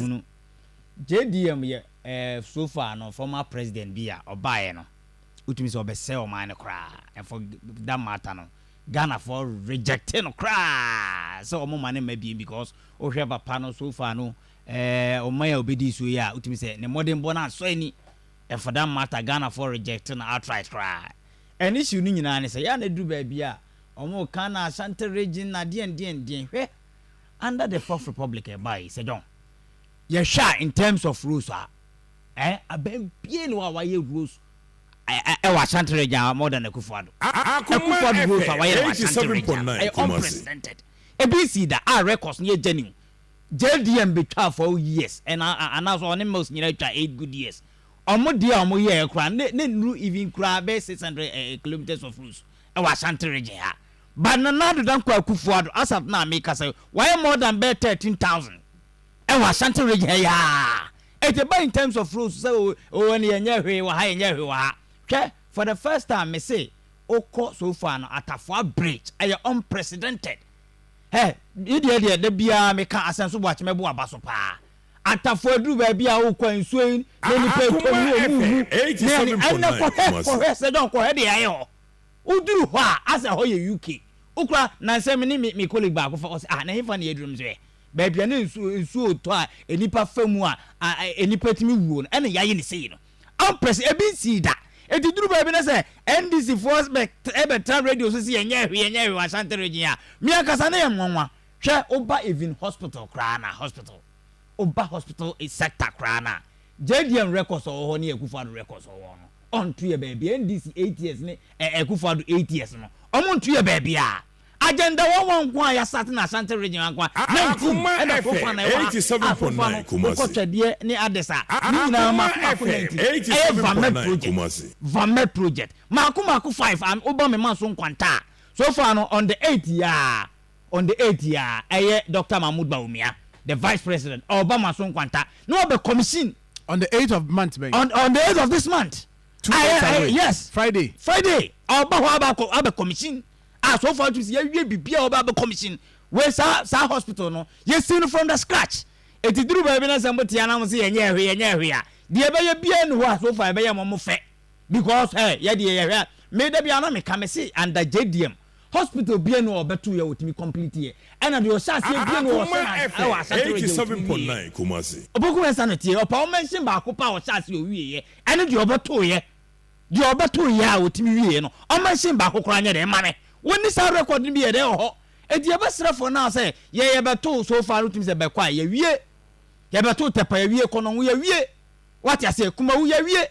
hunu. JDM yɛ eh so far no former president bi a ɔbaeɛ no wotumi sɛ ɔbɛsɛe ɔman no koraa and for that matter no Ghanafoɔ rejecte no koraa sɛ ɔmo ma no mma biem because wohwɛ papa no so far no eh ɔman a ɔbɛdii soɔ yi a wotumi sɛ ne mmɔdenbɔ no ansɔ ani and for that matter Ghanafoɔ rejecte no outright koraa and issue no nyinaa ne sɛ yɛ a na aduru baabi a ɔmo ka no Ashanti region na deɛn deɛn deɛn hwɛ under the fourth republic ɛbae yi sɛ dɔn yɛhwɛ a in terms of rules a ɛɛ abɛn bie ne hɔ a wayɛ rules ɛwɔ ashanti region a more than akufo ado akufo ado rules a wayɛ wɔ ashanti region ɛyɛ unprecedented ebi nsii da a records no yɛ genuine jdm betwaa four years ɛna anaasɛ ɔne mills nyinaa twa eight good years ɔmo deɛ a ɔmo yɛɛ koraa ne ne nuru even koraa bɛyɛ six hundred kilometres of rules ɛwɔ ashanti region ha. But Nana Addo Dankwa Akuffo Addo Asaf no a meka sɛ wayɛ more than bɛyɛ thirteen thousand wɔ Ashanti region ha yi aa, it ɛba in terms of roads sɛ oo oo ɛne yɛnyɛɛ hwee wɔ ha yɛnyɛɛ hwee wɔ ha. Hwɛ, for the first time mese wokɔ so far no Atafoa Bridge ɛyɛ unprecedented. Hɛ, me deɛ deɛ da biara meka Asɛnso Boakye mɛbo aba so paa. Atafoa aduru baabi a wokɔ a nsuo yi na nnipa ɛtɔ mu, wɔn mu wu, ne ɛne, ɛnnɛ kɔhwɛ, kɔhwɛ Sɛ John kɔhwɛ deɛ ɛyɛ hɔ. Woduru hɔ a, as ɛhɔ yɛ UK. Wokura, Nnansa me ne me me colleague baako fa hɔ sɛ, ah, na hefa na yɛaduru? Mesɛ, baabi a na nsu nsuo retɔ a nnipa fa mu a a nnipa tumi wuo no, ɛna yɛayɛ no sei no. Ampɛ sɛ, ebi nsii da. Enti duru baabi na sɛ NDC foɔ bɛ bɛtra radio so sɛ yɛnyɛ hwee, yɛnyɛ hwee wɔ Ashanti region a, me ankasa na ɛyɛ me nwanwa. Hwɛ, woba even hospital koraa no a, hospital, woba hospital sector koraa no a, JDM records a ɔwɔ hɔ ne Akufo-Addo records a ɔwɔ hɔ no, ɔnto yɛ baabiaa NDC eight years ne eh Akufo Addo eight years no ɔmo nto yɛ baabiaa agenda wɔn wɔn nko a yasate na Ashanti region anko a nineteen ɛna Afrofa na ɛwɔ ha a Afrofa no mokɔ Twɛdeɛ ne Addes a ne nyinaa maako maako nineteen ɛyɛ Vamed project Vamed project maako maako five a woba me manso Nkwanta a so far no on the eight yi aa On the eighth yi ara, ɛyɛ Doctor Mahmoud Bawumia, the Vice President, ɔreba mo aso nkwanta na wabɛ commission. On the eighth of month bɛn? On on the eighth of this month. Two days Ayɛ- away. ayɛ- yes. Friday. Friday, ɔreba hɔ aba akɔ- abɛ commission. Ah, so far nso yɛawie biribi a ɔbɛ abɛ commission. Wei saa saa hospital no, yɛsi no from the scratch. Eti duru baabi na sɛ mote anaa mo se yɛnyɛ ɛhwe yɛnyɛ ɛhwe a, deɛ ɛbɛyɛ biara nni hɔ a so far ɛbɛyɛ mo mo fɛ because eh yɛdeɛ yɛhwɛ a, me da biara na meka mese under JDM, Hospital bie no a ɔbɛto yɛ ɔtumi complete yɛ ɛna deɛ ɔhyɛ aseɛ bie no ɔhyɛ aseɛ ɛwɔ Asante region ɔtumi wie yɛ. Ɔboku West ano teɛ ɔpa wo mention baako pɛ a ɔhyɛ aseɛ ɔwie yɛ ɛne deɛ ɔbɛto yɛ deɛ ɔbɛto yɛ a ɔtumi wie yɛ no ɔ mention baako koraa nyɛ dɛn ma me wo nni saa record no bi yɛ dɛn wɔ hɔ ɛnti yɛ bɛsrɛ foɔ no a sɛ yɛ yɛ bɛto so far no tumi sɛ bɛkɔ a yɛ wie yɛ bɛto Tɛpa yɛ wie Konongo yɛ wie wate aseɛ Kumawu yɛ wie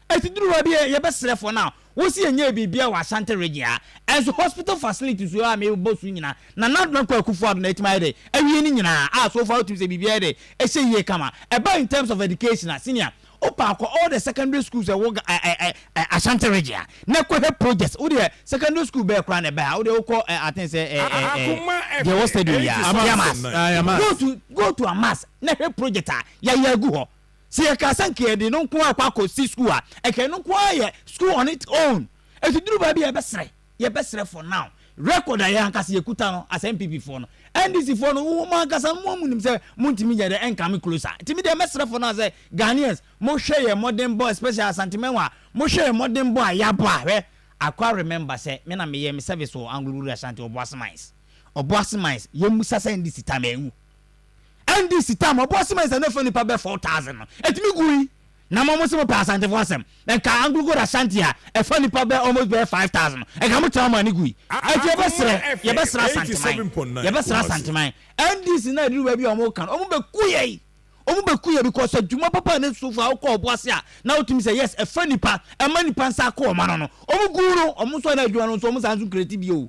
Esi duru baabi a yɛbɛsrɛ fo na wosi yɛn nyɛɛ biribiara wɔ Ashanti Region ha. Ɛnso hospital facilities wɔ ha a mebɔ so nyina na Nana Dankwa Akufo Addo na atumi ayɛ dɛ awie ne nyina a so far wotumi sɛ biribiara ayɛ dɛ ɛhyɛ yie kama. Ɛba in terms of education a senior wopɛ a kɔ all the secondary schools a ɛwɔ Ga eh eh eh Ashanti Region ha na kɔ hwɛ projects. Wodeɛ secondary school bɛɛ koraa na ɛbɛ ha wodeɛ wokɔ eh I think sɛ eh eh eh deɛ ɛwɔ stadium yi a Yamas go to go to Amas na hwɛ project a yɛayɛ agu hɔ. Sɛ yɛkaa sɛ nka yɛde no nko ara kɔ akɔsi sukuu a, nka ɛno nko ara yɛ school on its own. Enti duru baabi a yɛbɛsrɛ, yɛbɛsrɛ for now. Record a yɛn ankasa yɛkuta no as NPP foɔ no, NDC foɔ no, mo ankasa mo ara monim sɛ montumi nyɛ dɛ ɛnkame close a. Enti me deɛ mɛsrɛ for now sɛ Ghanaians, mohwɛ yɛn mmɔdenbɔ especially Asantemanwa, mohwɛ yɛn mmɔdenbɔ a yɛabɔ a, hwɛ, Akwa remember sɛ me na meyɛɛ me service wɔ Anglo Rural Ashanti, Obuasi Mines, Obuasi Mines, yɛmmusa sɛ NDC time anwu. NDC tam a ɔboa cement a na ɛfa nnipa bɛyɛ 4,000 no, ɛtumi gui. Na mo mo se mopɛ Asantefo asɛm, ɛnka Anglo-Gold Ashanti a ɛfa nnipa bɛyɛ almost bɛyɛ 5,000 no, ɛnka mo tra mo ani gui. Enti yɛbɛsrɛ, yɛbɛsrɛ Asanteman, yɛbɛsrɛ Asanteman, NDC na aduru baabi a wɔn reka no, wɔn bɛku yɛn, wɔn bɛku yɛn because adwuma papa a Nate Sufo a ɔkɔ ɔbo ase a na wotumi sɛ yes ɛfa nnipa, ɛma nnipa nsa kɔ wɔn ano no, wɔn gu no, wɔn nso a na adwuma no nso wɔn san nso create bio.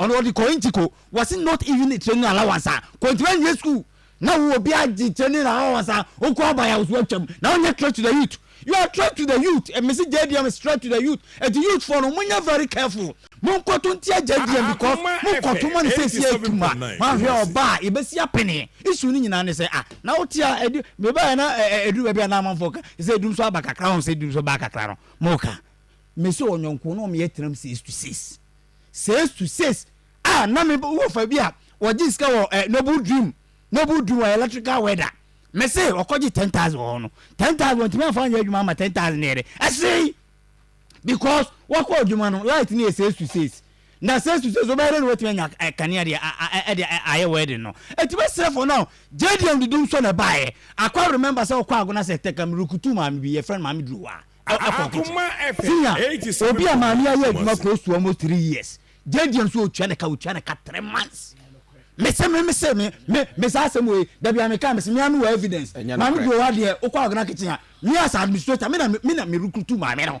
Ɔno ɔde Korinti kɔ. Wɔse not even training allowance a kontumi anwie school na wo obi agye training allowance a ɔkɔ aban a ɔso atwam na ɔnyɛ threat to the youth. You are threat to the youth. Mese JDM is threat to the youth. Enti youth foɔ no monyɛ very careful. Monkoto ntia JDM because mokoto ma no sɛsi atuma. Moahwɛ ɔba a yɛbɛsi apene. Issue no nyinaa ne sɛ ah na wote a ɛdu mebaeɛ na ɛduru baabi a na amanfoɔ ka sɛ ɛdum so aba kakra ho sɛ ɛdum so baa kakra no moka. Mese ɔnyɔnko no ɔmeyɛ term says to says. Sales to sales a na me wo fa bi a wɔgye sika wɔ eh, noble dream noble dream wɔ electrical weather me se ɔkɔgye ten thousand wɔ hɔ no ten thousand wɔntumi anfa anyɛ adwuma ama ten thousand ne yɛde ɛsee because wakɔ adwuma no light ne yɛ sales to sales na sales to sales wɔbɛyɛ dɛ na wɔatumi anya eh, kanea de ɛde eh, eh, ayɛ wedding no ɛti bɛsrɛ fo no gyediam didum sɔ na ɛbaeɛ akɔ remember sɛ ɔkɔ agona sɛ tɛkam rukutu maame bi yɛ friend maame duru hɔ a Senior, obi a maame ayɛ adwuma close to almost three years. JD nso otua ne ka, otua ne ka three months. Mese me mese me me me saa asɛm wei dabi a meka mese me ano wɔ evidence. Maame deɛ ɔwɔ adeɛ okɔ agona kitchen a me as administrator me na me na me recruit maame no.